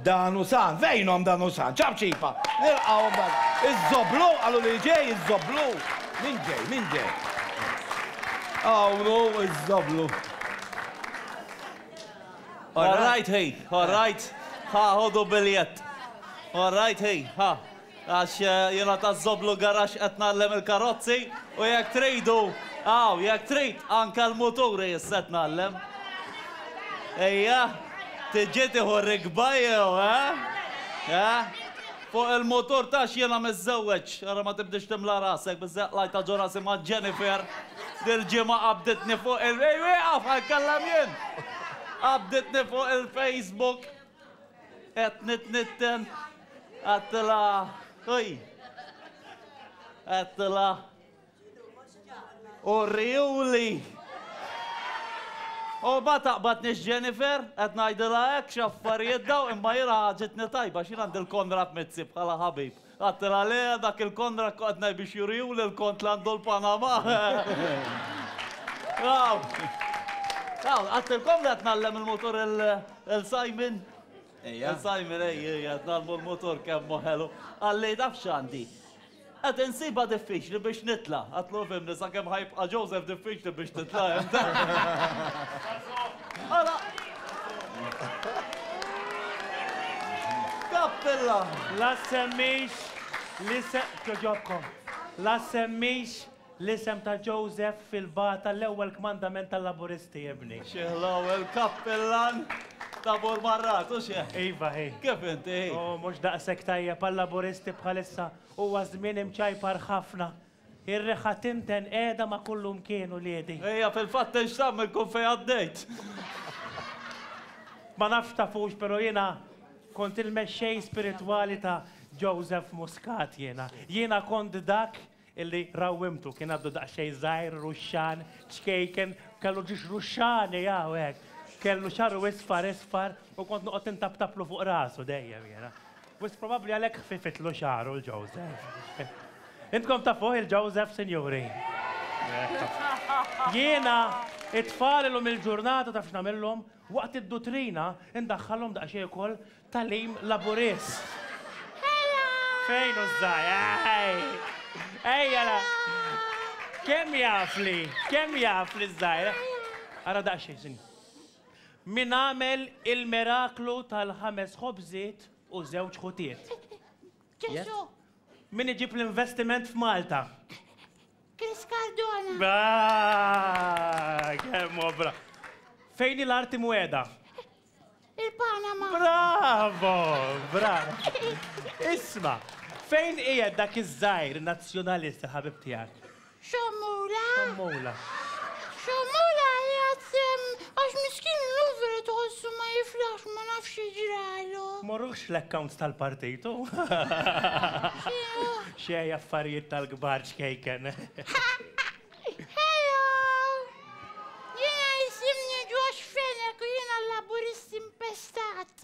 Dan hu San! Fejnhom dan hu San? Ċapċipa! Nilqgħu dan iż-żoblu, qalu li ġej iż-żoblu. Min ġej, min ġej? Hawn hu iż-żoblu. All right, hey, all right. Ha, ħodu biljett. All right, hey, ha. Għax jiena taż-Żoblu Garaxx qed ngħallem il-karozzi u jekk tridu, aw, jekk trid, anke l-muturi issa qed ngħallem. Ejja, tiġi tieħu rikba jew, eh? Eh? Fuq il-mutur taf x'jiena miżżewweġ, ara ma tibdiex timla rasek biżżejjed qlajt ta' ġurha simha Jennifer, dil-ġimgħa qabditni fuq il-, ejja wieqaf, ħa nitkellem jien! Qabditni fuq il-Facebook. Qed nitnitten għattila oj. Għattila. U riuli. U ba taqbad nix Jennifer, qed ngħidilha hekk x'affarijiet daw imma jiena ħaġitni tajba x'jien għandi l-Konrad Mizzi bħala ħabib. Qatt ra lea dak il-kondra qgħadna biex juriu lil kont l-għandu l-Panama. Aw! Aw, qatt il-kondra qed ngħallem il-mutur il-Simon. Ejja. Il-Simon ej, ej, qed ngħallmu l-mutur kemm hu ħelu. Qalli taf x'għandi? Qed insibha diffiċli biex nitla'. Għadtlu fhimni sakemm ħa jibqa' Joseph diffiċli biex titla' int. Ara, Kappella! La ssemmix l-isem, kjoġobkom, la ssemmix l-isem ta' Joseph fil-bata l-ewwel kmandament tal-Laburisti, ibni. Xi ħlawa, il-kappillan ta' Bur Marrat, u xi? Iva, hi. Kif inti, hi? Hu mhux daqshekk tajjeb għal-Laburisti bħalissa, huwa żmien imċajpar ħafna. Ir-riħa tinten qiegħda ma' kullimkien uliedi. Hija fil-fatt tgħix tagħmel kull fejn għaddejt. Ma nafx tafux pero jiena kont il-mexxej spiritwali ta' Joseph Muscat jiena. Jiena kont dak illi rawwimtu. Kien għadu daqsxejn żgħir, ruxxan, ċkejken, kellu ġiex ruxxani hawn hekk. Kellu xagħru isfar isfar u kont noqgħod intabtablu fuq rasu dejjem jiena. Wisq probabbli għalhekk ħfifitlu xagħru l-Joseph. Intkom tafuh il-Joseph, sinjuri? Jiena, it-tfal illum il-ġurnata taf x'nagħmilhom? Waqt id-dutrina ndaħħalhom daqsxejn ukoll tagħlim Laburist. Fejn hu ż-żgħir? Ejja la! Kemm jafli, kemm jafli ż-żgħir? Ara daqsxejn, sinjur. Min għamel il-miraklu tal-ħames ħobżiet u żewġ ħutiet? Ġesù. Min iġib l-investiment f'Malta? Chris Cardona. Braa! Kemm hu bra. Fejn hi l-art imwegħda? Il-Panama. Bravo! Bravo! Isma', fejn qiegħed dak iż-żgħir nazzjonalist il-ħabib tiegħek? Xommola? Xommola. Xommola qiegħed sehem għax miskin illum vera tħossu ma jiflaħx ma nafx x'ġralu. Morruhx fl-accounts tal-partit hu. X'inhu? Xejn affarijiet tal-kbar ċkejken. Hello! Jiena jisimni Josh Fenech u jiena Laburist impestat.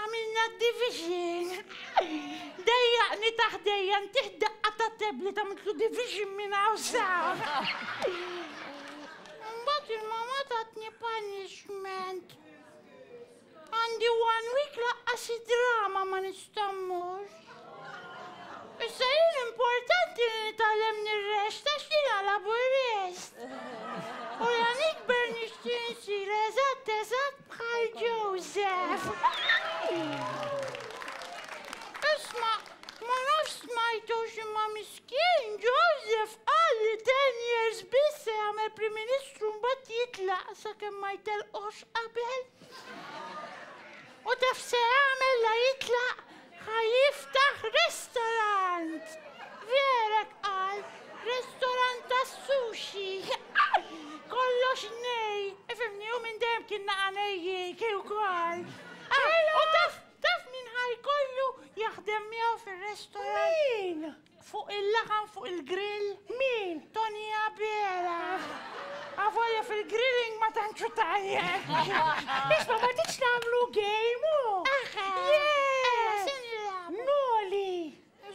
Għamilna d-division! Dejjaqni ta' ħdejja ntih daqqa ta' tablet għamiltlu division minn hawn s'hawn! Imbagħad il-mamma tatni punishment. Għandi one week laqqas id-drama ma nista' mmur. Issa jien importanti li nitgħallem nirrest għax jiena laburist. U la nikber nixtieq nsir eżatt eżatt Bħal Joseph! Isma, ma nafx smajtux imma miskin Joseph qal li ten years biss se jagħmel Prim Ministru mbagħad jitlaq sakemm ma jtellqux qabel. U taf se jagħmel la jitlaq Ħa jiftaħ restorant! Verek qal, restorant tas-sushi! Kollox nej, ifhimni, hu minn dejjem kien naqa' nejjieki wkoll. U taf, taf min ħa jkollu jaħdem miegħu fir-restorant? Min? Fuq il-laħam fuq il-grill? Min? Toni Abela! Avolja fil-grilling ma tantx hu tajjeb. Isma' ma tridx nagħmlu game u. Aħħa! Jee! Noli!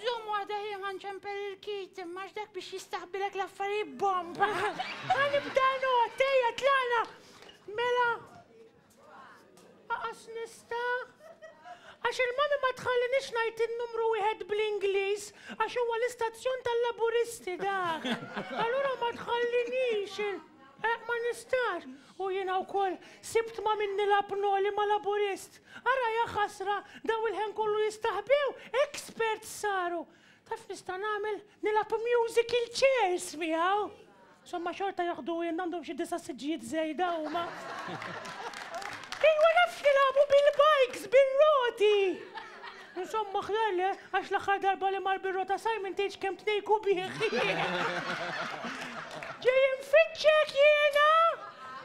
Żomm waħda ħieħa nċempel il-kit imma x'dak biex jistaħbilek l-affarijiet bomba. Ħa nibda not, ejja tlaqna! Mela Aqas nista'. Għax il-manu ma tħallinix ngħid in-numru wieħed bl-Ingliż għax huwa l-istazzjon tal-Laburisti dak. Allura ma tħallinix. Eh, ma nistax. U jiena wkoll sibt ma' min nilgħab noli ma' Laburist. Ara ja ħasra, daw il-ħen kollu jistaħbew, experts saru. Taf x'nista' nagħmel? Nilgħab musical chairs miegħu! Somma xorta jaħdu wien, għandhom xi disa' siġġijiet żejda huma. Ejwa naf x'nilgħabu bil-bikes bir-roti! Insomma aħjar le, għax l-aħħar darba li mar bir-rota Simon tgħidx kemm tnejku bih! Ġej infittxek jiena!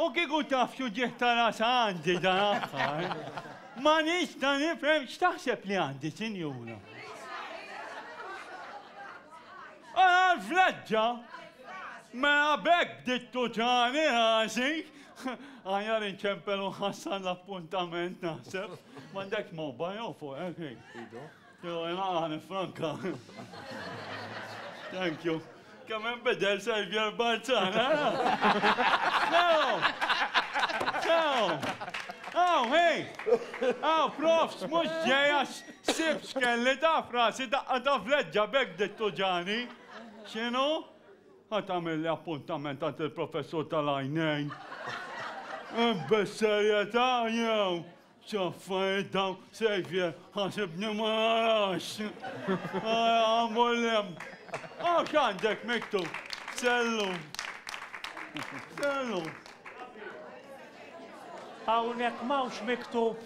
U kieku taf x'uġigħ ta' ras għandi dan aħħar, ma nista' nifhem x'taħseb li għandi, sinjura. Ara l-fleġġa! Mela b'hekk bdiet tuġagħni rasi. Aħjar inċempel u nħassar l-appuntament naħseb. M'għandekx mobile jew fuqek, Ido? Jew jena għani franka. Thank you. Kemm hemm bidel Xavier Barzan, Sew! Sew! Aw, hej! Aw, profs, mux ġeja xibx kelli ta' frasi daqqa ta' fleġġa bek dittu ġani. Xinu? Għat għamilli appuntament għant il-professur tal-għajnejn. Besserieta, jew, X'affarijiet dawn Xavier, ħasibni ma narax. Ara mmur l-hemm. Hawn x'għandek miktub? Sellum. Sellum. Hawnhekk m'hawnx miktub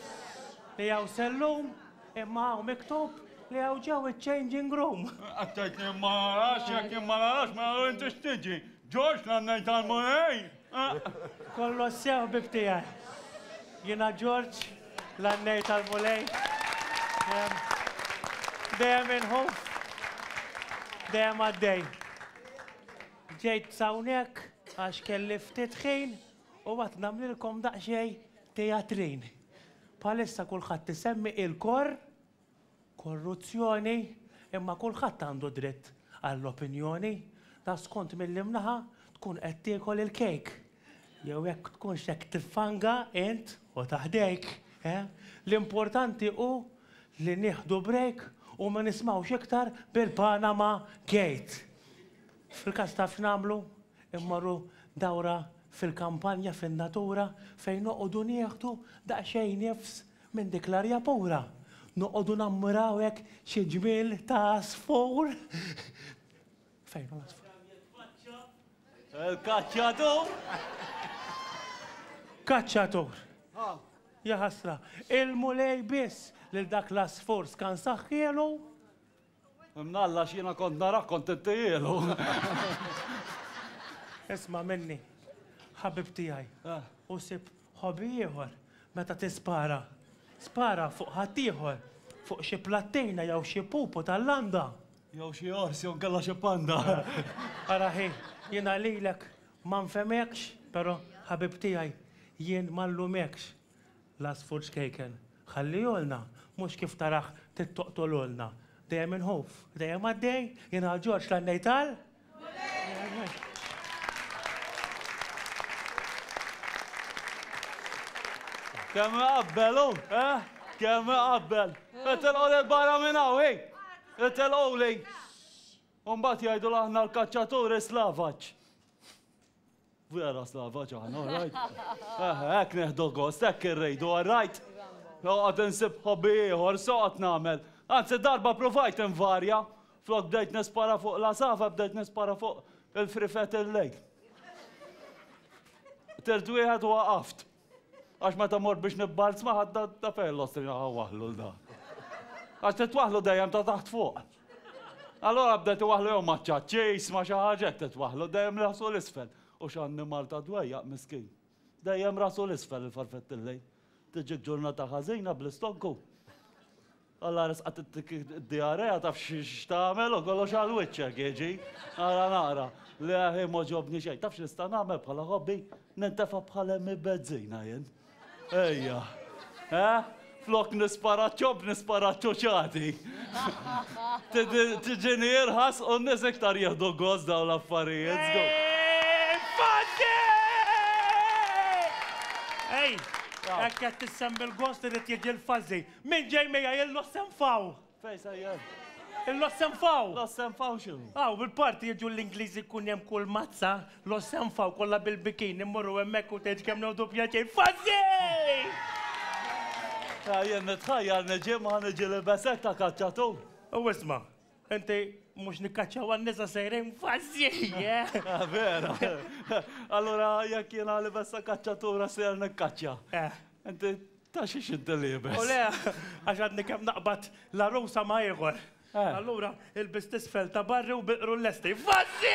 li hawn sellum, imma hawn miktub li hawn ġew iċ-changing room. Attajtni ma narax, jekk ma narax ma narax intix tiġi. Ġorġ l-għannejn tal-Mulej. Aq! Kollox sew ħbieb tiegħi. Jiena Ġorġ, l-għannej tal-Mulej. Dejjem inħoff. Dejjem għaddej. Ġejt s'hawnhekk għax kelli ftit ħin u għad nagħmlilkom daqsxejn tejatrin. Bħalissa kulħadd isemmi il-kor. korruzzjoni, imma kulħadd għandu dritt għall-opinjoni, ta' skont mill-imnaħa tkun qed tiekol il-kejk, jew jekk tkunx qed tiffanga int u ta' ħdejk, eh? L-importanti hu li nieħdu break u ma nismgħux iktar bil-Panama Gate. Fil-każ taf x'nagħmlu? Immorru dawra fil-kampanja, fin-natura, fejn noqogħdu nieħdu daqsxejn nifs, Minn dik l-arja pura noqogħdu nammiraw hekk xi ġmiel ta' għasfur. Fejn hu l-għasfur? Il-kaċċatur! Kaċċatur! Jaħasra, il-Mulej biss lil dak l-għasfur skansaħ kielu Imnalla għax jiena kont narak kont intihielu. Isma' minni, ħabib tiegħi, eh. u sib ħobi ieħor meta tispara. Spara fuq ħaddieħor, fuq xi plattejna jew xi pupu tal-landa. Jew xi ors jew kellha xi panda. Ara ħi, jiena lilek ma nfemekx, però ħabib tiegħi jien ma nlumekx. L-għasfur ċkejken, ħallihulna, mhux kif tarah tittoqtolulna. Dejjem inħuf, dejjem għaddej, jien għal Ġorġ la ngħid għal. Kemm iqabbel hu, eh? Kemm iqabbel. Itilqu lil barra minn hawn, hi! Itilquli! U mbagħad jgħidu l-aħna l-kaċċaturi slavaġ. Vera slava ġana, all right? Hekk neħdu gost, hekk irrejdu, all right? Noqgħod insib hobby ieħor, soqgħod nagħmel. Anzi darba provajt invarja, flok bdejt nispara fuq la sava, bdejt nispara fuq il-frifet il-lejl. Tirt wieħed u waqaft. Għax meta mort biex nibbalzma ħadda ta' fejn l-ostri naħa waħlu l-da. Għax titwaħlu dejjem ta' taħt fuq. Allora bdet iwaħlu jew ma' ċaċċis ma' xi ħaġa hekk titwaħlu dejjem rasu l-isfel. U x'annimal ta' dwejjaq miskin. Dejjem rasu l-isfel il-farfett il-lejl. Tiġik ġurnata ħażina bl-istonku. Alla resqatittik id-diarrea taf x'tagħmel u kollox għal wiċċek jiġi. Ara nara li aħi m'għoġobni xejn. Taf x'nista' nagħmel bħala hobby? Nintefa' bħal emmi bezzina jien. Ejja. Eh? Flok nispara ċob nispara ċoċati. Tiġini irħas u n-nies iktar jieħdu gost dawn l-affarijiet. Ej, ekk qed tissemmi l-gost irid jiġi l-fażi. Min ġej miegħi il-Lossenfaw? Fejn se jgħin? Il-Lossenfaw! Lossenfaw x'inhu? Hawn il-parti jiġu l-Ingliżi jkun hemm kull mazza, Lossenfaw kollha bil-bikini immorru hemmhekk u tgħid kemm ngħodu pjaċir. Fuzzy! Jien nitħajjar niġi ma niġi libes hekk ta' kaċċatur. U isma'. Inti mhux nikkaċċaw għan-nisa sejrin fażi, eh? Ah, vera. Allura jekk jiena li bessa kaċċatura ser nikkaċċa. Eh. Inti ta' xi xidda li jibes. U le, għax għadni kemm naqbad la rusa ma' ieħor. Eh. Allura il-bis tisfel ta' barri u biqru l-lesti. Fażi!